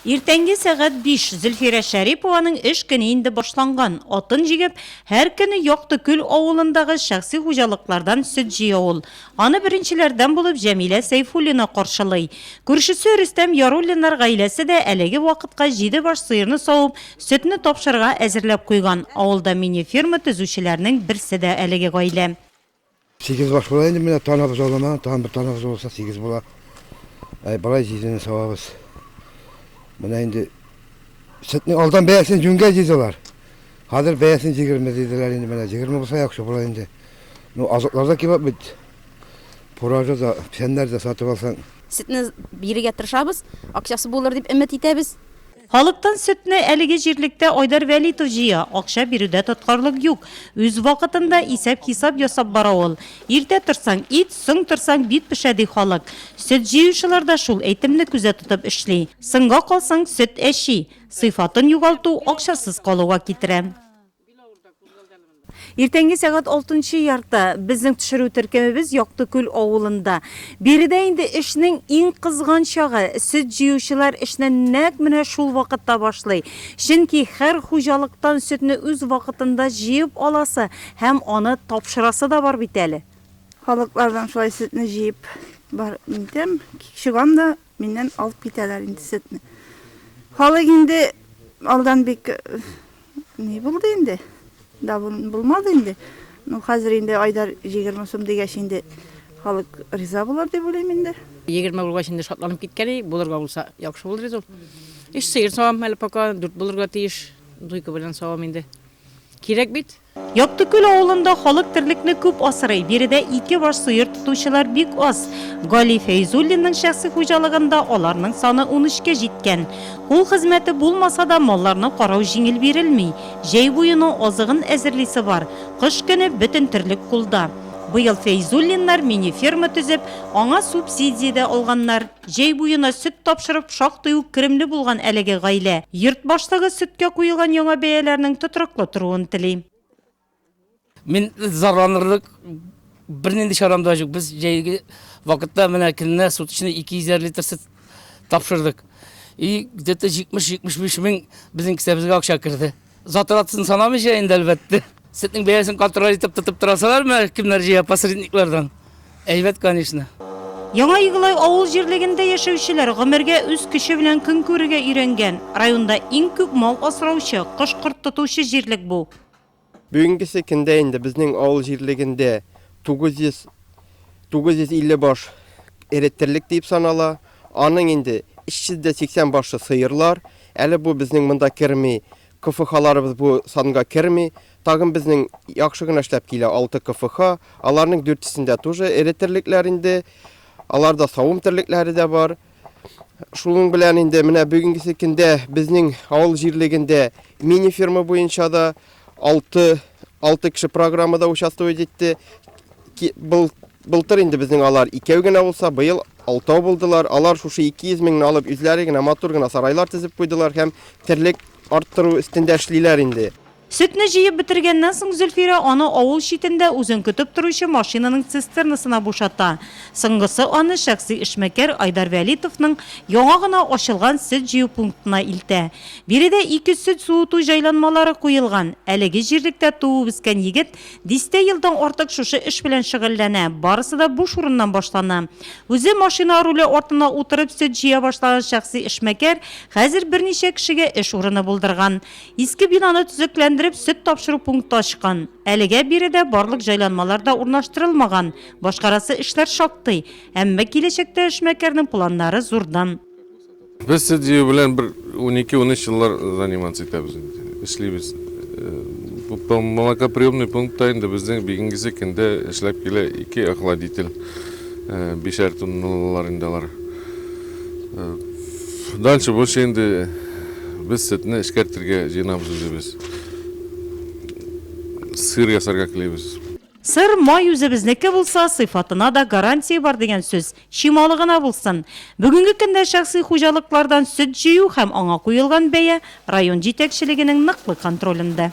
Иртәнге сәгать биш. Зөлфирә Шәрипованың эш көне инде башланган. Атын җигеп, һәр көне Якты Күл авылындагы шәхси хуҗалыклардан сөт җыя ул. Аны беренчеләрдән булып Җәмилә Сәйфуллина каршылый. Күршесе Рөстәм Яруллиннар гаиләсе дә әлеге вакытка җиде баш сыерны савып, сөтне тапшырырга әзерләп куйган. Авылда мини-ферма төзүчеләрнең берсе дә әлеге гаилә. Сигез баш була инде менә танабыз аламаган, тагын бер танабыз булса сигез була. Әй, болай җизене савабыз. Менә инде сөтнең алдан бәясен җүнгә җыйдылар. Хәзер бәясен җигерме диделәр инде менә җигерме булса яхшы була инде. Ну, азыклар да кебап бит. Пуражы да, печәннәр дә сатып алсаң. Сөтне бирергә тырышабыз, акчасы булыр дип өмет итәбез. Халыктан сөтне әлеге җирлектә Айдар Вәлитов җыя, акча бирүдә тоткарлык юк. Үз вакытында исәп-хисап ясап бара ул. Иртә торсаң, ит, соң торсаң, бит пешә, ди халык. Сөт җыючылар да шул әйтемне күзә тотып эшли. Соңга калсаң, сөт әчи. Сыйфатын югалту акчасыз калуга китерә. Иртәнге сәгать алтынчы ярты. Безнең төшерү төркемебез Яктыкүл авылында. Биредә инде эшнең иң кызган чагы. Сөт җыючылар эшне нәкъ менә шул вакытта башлый. Чөнки һәр хуҗалыктан сөтне үз вакытында җыеп аласы һәм аны тапшырасы да бар бит әле. Халыклардан шулай сөтне җыеп бар итәм. Чыгам да Миннән алып китәләр инде сөтне. Халык инде алдан бик ни булды инде. Давын булмады инде. Ну, хәзер инде айдар 20 сум дигәч инде халык риза булыр дип уйлыйм инде. 20 булгач инде шатланып киткән идек, булырга булса яхшы булыр иде ул. Өч сыер савам әле пока, дүрт булырга тиеш. Дуйка белән савам инде. Кирәк бит. Яктыкүл авылында халык терлекне күп асрый, биредә ике баш сыер тотучылар бик аз. Гали Фәйзуллинның шәхси хуҗалыгында аларның саны унөчкә җиткән. Кул хезмәте булмаса да, малларны карау җиңел бирелми. Җәй буена азыгын әзерлисе бар, кыш көне бөтен терлек кулда. Быел Фәйзуллиннар мини-ферма төзеп, аңа субсидия дә алганнар. Җәй буена сөт тапшырып шактый ук керемле булган әлеге гаилә, йорт башлыгы сөткә куелган яңа бәяләрнең тотрыклы торуын тели. Мин зарланырлык бернинди чарам да юк. Без җәйге вакытта менә көненә суточный 250 литр сөт тапшырдык. И где-то 70-75 мең безнең кесәбезгә акча керде. Затратсын санамыйча инде әлбәттә. Сөтнең бәясен контроль итеп тотып торасалармы, кемнәр җыя посредниклардан? Әйбәт, конечно. Яңа Игылай авыл җирлегендә яшәүчеләр гомергә үз көче белән көн күрергә өйрәнгән. Районда иң күп мал асраучы, кош-корт тотучы җирлек бу. Бүгенгесе көндә инде безнең авыл җирлегендә 900, 950 баш эре терлек диеп санала. Аның инде 380 башы сыерлар. Әле бу безнең монда керми, КФХларыбыз бу санга керми. Тагын безнең яхшы гына эшләп килә алты КФХ. Аларның дүртесендә тоже эре терлекләр инде. Аларда савым терлекләре дә бар. Шуның белән инде менә бүгенгесе көндә безнең авыл җирлегендә мини-ферма буенча да алты алты кеше программада участвовать итте. Был Былтыр инде безнең алар икәү генә булса, быел алтау булдылар. Алар шушы 200 меңне алып, үзләре генә матур гына сарайлар төзеп куйдылар һәм терлек арттыру өстендә эшлиләр инде. Сөтне җыеп бетергәннән соң Зөлфирә аны авыл читендә үзен көтеп торучы машинаның цистернасына бушата. Соңгысы аны шәхси эшмәкәр Айдар Вәлитовның яңа гына ачылган сөт җыю пунктына илтә. Биредә ике сөт суыту җайланмалары куелган. Әлеге җирлектә туып-үскән егет Дистә елдан артык шушы эш белән шөгыльләнә. Барысы да буш урыннан башлана. Үзе машина руле артына утырып сөт җыя башлаган шәхси эшмәкәр хәзер берничә кешегә эш урыны булдырган. Иске бинаны төзекләндереп, сөт тапшыру пункты ачкан. Әлегә биредә барлык җайланмалар да урнаштырылмаган, башкарасы эшләр шактый. Әмма киләчәктә эшмәкәрнең планнары зурдан. Без СДЮ белән бер унике-унөч еллар заниматься итәбез инде, эшлибез. Бу пом- молокоприемный пунктта инде безнең бүгенгесе көндә эшләп килә ике охладитель, э, бишәр тонналылар инде алар. Э, Дальше больше инде без сөтне эшкәртергә җыенабыз инде без. Сыр ясарга телибез. Сыр, май үзебезнеке булса, сыйфатына да гарантия бар дигән сүз. Чималы гына булсын. Бүгенге көндә шәхси хуҗалыклардан сөт җыю һәм аңа куелган бәя район җитәкчелегенең ныклы контролендә.